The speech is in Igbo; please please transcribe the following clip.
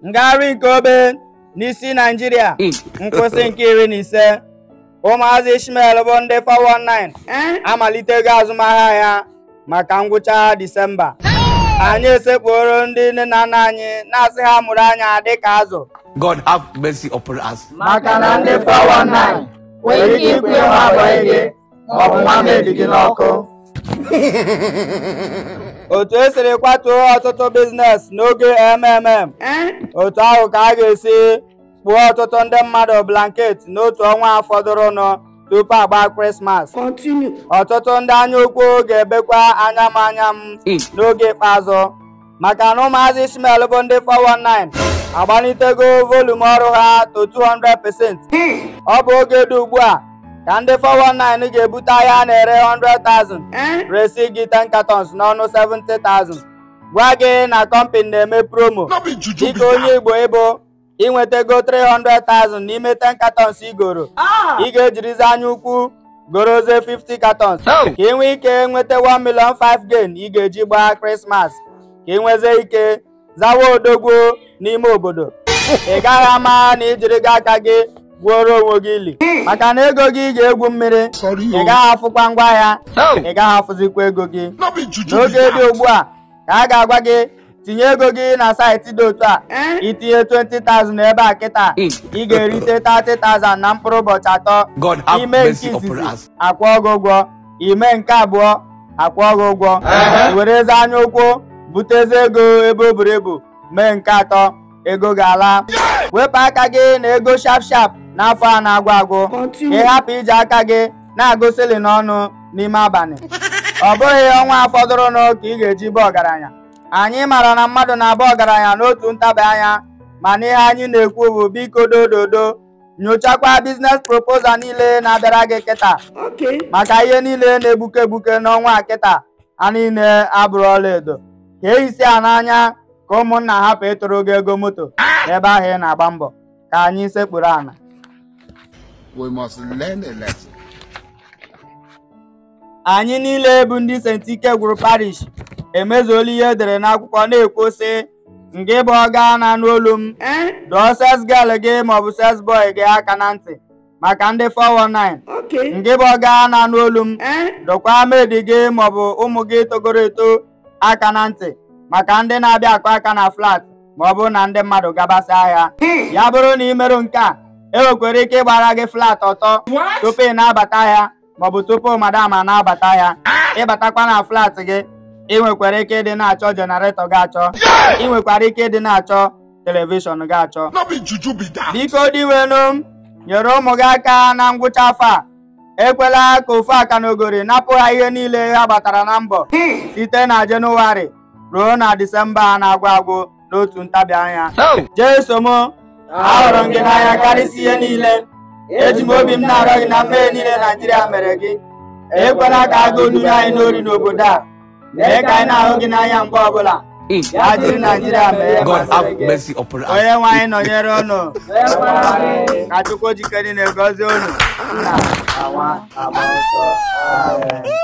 ngagharị nke obe n'isi naijiria nkwụsị nke iri na ise ụmụazị ishmael bụ ndị 419 amalitego azụmahịa ya maka ngwụcha disemba anyị esekpuoro ndị nne na nna anyị na-asị ha mụrụ anya dịka azụ God have mercy upon us. maka na ndị 419 nwere ike ikwunye nwa bọị gị ma ọ bụ nwa maid gị n'ọkụ otu esiri kwatuo ọtụtụ biznes n'oge mmm otu ahụ ka a ga-esi kpuo ọtụtụ ndị mmadụ blanket n'otu ọnwa fọdụrụnụ tupu agba krismas ọtụtụ ndị anya ukwu ga-ebekwa anya m anya m n'oge ikpeazụ maka na ụmụazị Ishmael bụ ndị 419 agbalitego volum ọrụ ha to 200% ọ bụ oge dị ugbu a ka ndị 419 ga-ebute ahịa a na-ere 100,000 resi gị 10 cartons n'ọnụ 70,000 gwa gị na kọmpịnị na-eme promo dịka onye Igbo ị bụ ị nwetago 300,000 n'ime 10 katọns i goro ị ga-ejirizi anya ukwu gorozie 50 katọns ka ị nwee ike nweta 1 million 5 gain ị ga-eji gbaa krismas ka ị nwezie ike zawa odogwu n'ime obodo ị gaghị ama na ijiri gị aka gị gwuoro onwe gị ili maka na ego gị ga-egwu mmiri ị gaghị afụkwa ngwa ahịa ị gaghị afụzikwa ego gị n'oge dị ugbu a ka a ga-agwa gị tinye ego gị na saịtị dị otu a itinye 20,000 ebe a kịta ị ga-erite 30,000 na mkpụrụ ụbọchị atọ God have mercy upon us. i mee nke izizi akwụọ gị ụgwọ i mee nke abụọ akwụọ gị ụgwọ i werezie anya ukwu butezie ego ebe o buru ibu mee nke atọ ego gị alaa wepụ aka gị na ego shap shap n'afọ a na-agwụ agwụ ka ị hapụ iji aka gị na-agụ ceiling ọnụ n'ime abalị ọ bụghị ọnwa fọdụrụnụ ka ị ga-eji baa ọgaranya anyị mara na mmadụ na-aba ọgaranya n'otu ntabi anya mana ihe anyị na-ekwu bụ biko dododo nyochakwa biznes proposal niile na-abịara gị kịta maka ihe niile na-egbuke egbuke n'ọnwa a kịta ha niile abụrọ ọlaedo ka e hisie aka n'anya ka ụmụnna hapụ ịtụrụ gị ego moto ebe ahụ ị na-agba mbọ ka anyị sekpuru ana We must learn a lesson. anyị niile bụ ndị St. Ike gwụrụ parish emezuola ihe edere n'akwụkwọ na-ekwu sị ngị bụ ọga na-anụ olu m dọọ sales girl gị maọbụ sales boy gị aka na ntị maka ndị 419 Okay. ngị bụ ọga na-anụ olu m Eh? dọkwa maid gị maọbụ ụmụ gị togoro eto aka na ntị maka ndị na-abịa akụ aka na flat ma ọ bụrụ na ndị mmadụ gabasịa ahịa ya bụrụ na i merọ nke a e nwekwara ike ịgbara gị flat ọtọ What? tupu ị na-abata ahịa maọbụ tupu madam a na-abata ahịa ịbatakwa na flat gị ị nwekwara ike ịdị na-achọ jenaretọ gị achọ ị nwekwara ike ịdị na-achọ telivishọn gị achọ No be juju be that. biko dinwenụ m nyere ụmụ gị aka na ngwụcha afọ a ekwela ka ofu akalogori napụ ha ihe niile ha gbatara na mbọ site na jenụwarị ruo na disemba a na-agwụ agwụ n'otu ntabi anya jeso m ahụrụ m gị n'anya karịsịa ihe niile eji m obi m na-arịọ gị na mmehie niile naijiria mere gị ekwela ka agụụ nunye anyị n'ori n'obodo a mee ka anyị na-ahụ gị n'anya mgbe ọbụla ya jiri naijiria mee ihe masịrị gị God have mercy upon us. onye nwe anyị nọnyere unu ka chukwu ji ike niile gọzie unu nna na nwa na mmụọ nsọ amen